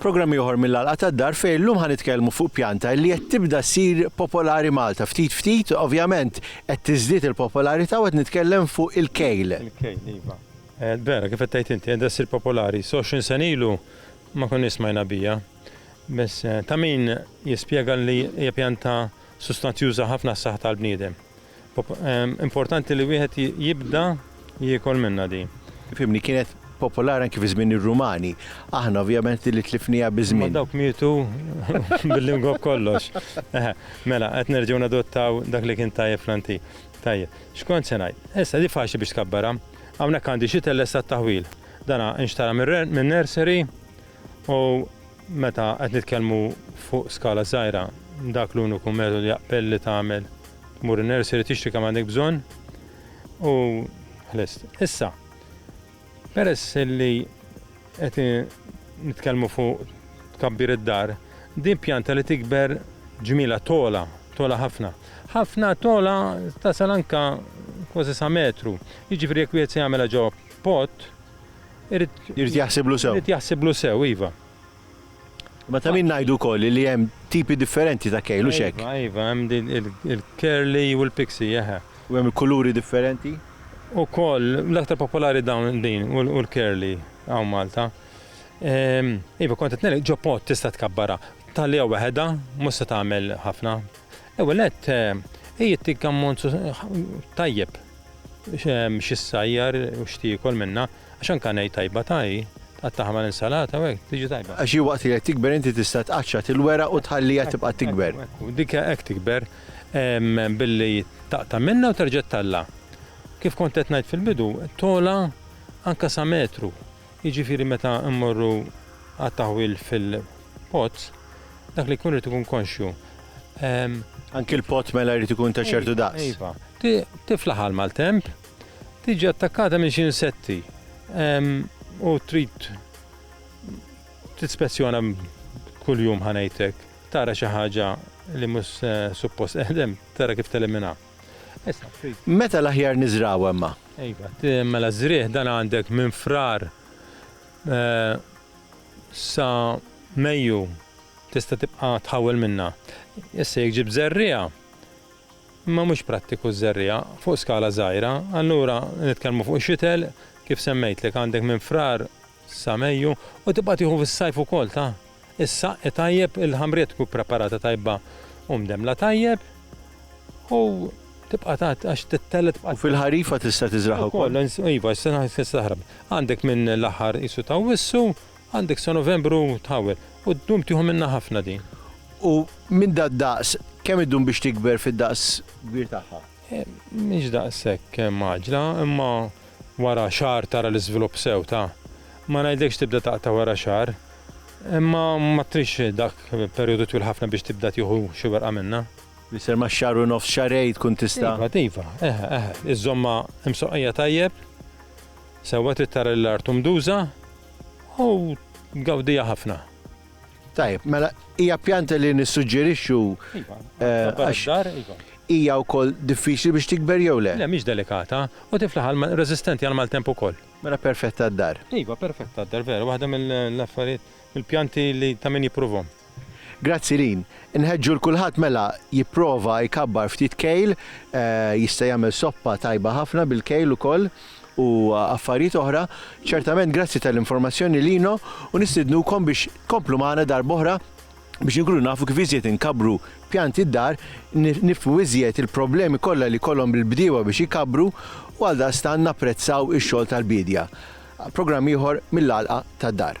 Programm ieħor mill-Għalqa tad-Dar fejn illum ħa nitkellmu fuq pjanta li qed tibda ssir popolari Malta. Ftit ftit, ovvjament, qed tiżdied il-popolarità u qed nitkellem fuq il-kejl. Il-kejl, iva. Vera, kif qed tgħid inti, qed ssir popolari. Soxin senilu Ma konniex smajna biha. Biss ta' min jispjega li hija pjanta sustanzjuża ħafna għas-saħħa tal-bniedem. Importanti li wieħed jibda jiekol minnha din. Fimni, kienet popolari anki fi żmien ir-Rumani. Aħna ovvjament din li tlifniha biż-żmien. Imma dawk mietu bil-lingwa b'kollox. Eħe, mela, qed nerġgħu nadottaw dak li kien tajjeb fl-antik. Tajjeb, x'kont se ngħid? Issa, di faċli biex tkabbarha. Hawnhekk għandi xitl lesta għat-taħwil. Dana nxtara minn nursery u meta qed nitkellmu fuq skala żgħira dak l-uniku metodu jaqbel li tagħmel tmur in-nursery tixtri kemm għandek bżonn u ħlist. Issa, peress li qed nitkellmu fuq tkabbir id-dar, din pjanta li tikber ġmielha togħla, togħla ħafna. Ħafna togħla tasal anke kważi sa metru. Jiġifieri jekk wieħed se jagħmilha ġewwa Pot, irid. Irid jaħsiblu sew. Irid jaħsiblu sew, iva. Ma ta' min ngħidu wkoll li hemm tipi differenti ta' kejl, u xek. Iva, iva, hemm il-curly u l-pixi, eħe. U hemm kuluri differenti? U koll, l-aktar popolari dawn din u l-curly għaw Malta. Ehm, iva, kontet nel, ġo pot tista tkabbarha. Talija waħedha, musta tagħmel ħafna. L-ewwel nett, hi ttik ammont tajjeb xi ssajjar u x'tiekol minnha, għax anke ngħid tajba ta' hi, tqattagħha mal-insalata u hekk, tiġi tajba. Għax hi waqt li qed tikber inti tista' tqaċċat il-weraq u tħalliha tibqa' tikber. Ekku, dik hekk tikber, billi taqta' minnha u terġa' tellgħa. Kif kont qed ngħid fil-bidu, togħla anke sa metru. Jiġifieri meta mmorru għat-taħwil fil-pot, dak li jkun irid ikun konxju. Anki l-pot mela jrid ikun ta' ċertu daqs. Iva. Tifla ħa l-maltemp, tiġi attakkata minn xi insetti u trid tispezzjona kuljum ħa ngħidlek, tara xi ħaġa li mhux suppost qegħdem, tara kif teliminha. Meta l-aħjar niżraw hemma? Iva, mela żrieħ dan għandek minn frar eh, sa Mejju tista' tibqa' tħawel minna. Issa jekk ġib żerriegħa, ma mhux prattiku żerriegħa fuq skala żgħira, allura nitkellmu fuq xitel kif semmejtlek għandek minn frar sa Mejju u tibqa' tieħu fis-sajf ukoll ta' is-saqq tajjeb il-ħamrija tkun ippreparata tajba u mdemmla tajjeb u tibqa' tgħadd għax titella' tibqa' U fil-ħarifa tista' tiżragħha wkoll? Ukoll iva tista' taħrab. Għandek minn l-aħħar qisu ta' Awwissu għandek sa Novembru tħawwel u ddum tieħu minnha ħafna din. U minn dad-daqs kemm iddum biex tikber fid-daqs kbir tagħha? Mhix daqshekk mgħaġġla, imma wara xahar tara l-iżvilupp sew ta'. Ma ngħidlekx tibda taqta' wara xahar, imma ma tridx dak perjodu twil ħafna biex tibda tieħu xi werqa minnha. Mister ma' xahar u nofs xahrejn tkun tista'. Iva, iva, eħe, eħe. Iżżommha msoqqija tajjeb, sewwa trid tara li l-art hu mduża u tgawdiha ħafna. Tajb, mela hija pjanta li nissuġġerixxu iva, eh, għax iva. hija wkoll diffiċli biex tikber jew le. Le mhix delikata u tiflaħ għal resistenti għal maltemp ukoll. Mela perfetta d-dar. Iva, perfetta d-dar, vera, waħda mill-affarijiet mill-pjanti li ta' min jipprovhom. Grazzi lin. Nħedġu l-kulħadd mela jipprova jkabbar ftit kejl, eh, jista' jagħmel soppa tajba ħafna bil-kejl ukoll. u affarijiet oħra, ċertament grazzi tal-informazzjoni lino u nistidnukom biex tkomplu magħna darb'oħra biex inkunu nafu kif iżjed inkabbru pjanti d-dar, nifhmu iżjed il-problemi kollha li jkollhom il-bdiewa biex ikabbru u għaldaqstant napprezzaw ix-xogħol tal-biedja. Programm ieħor mill-Għalqa tad-Dar.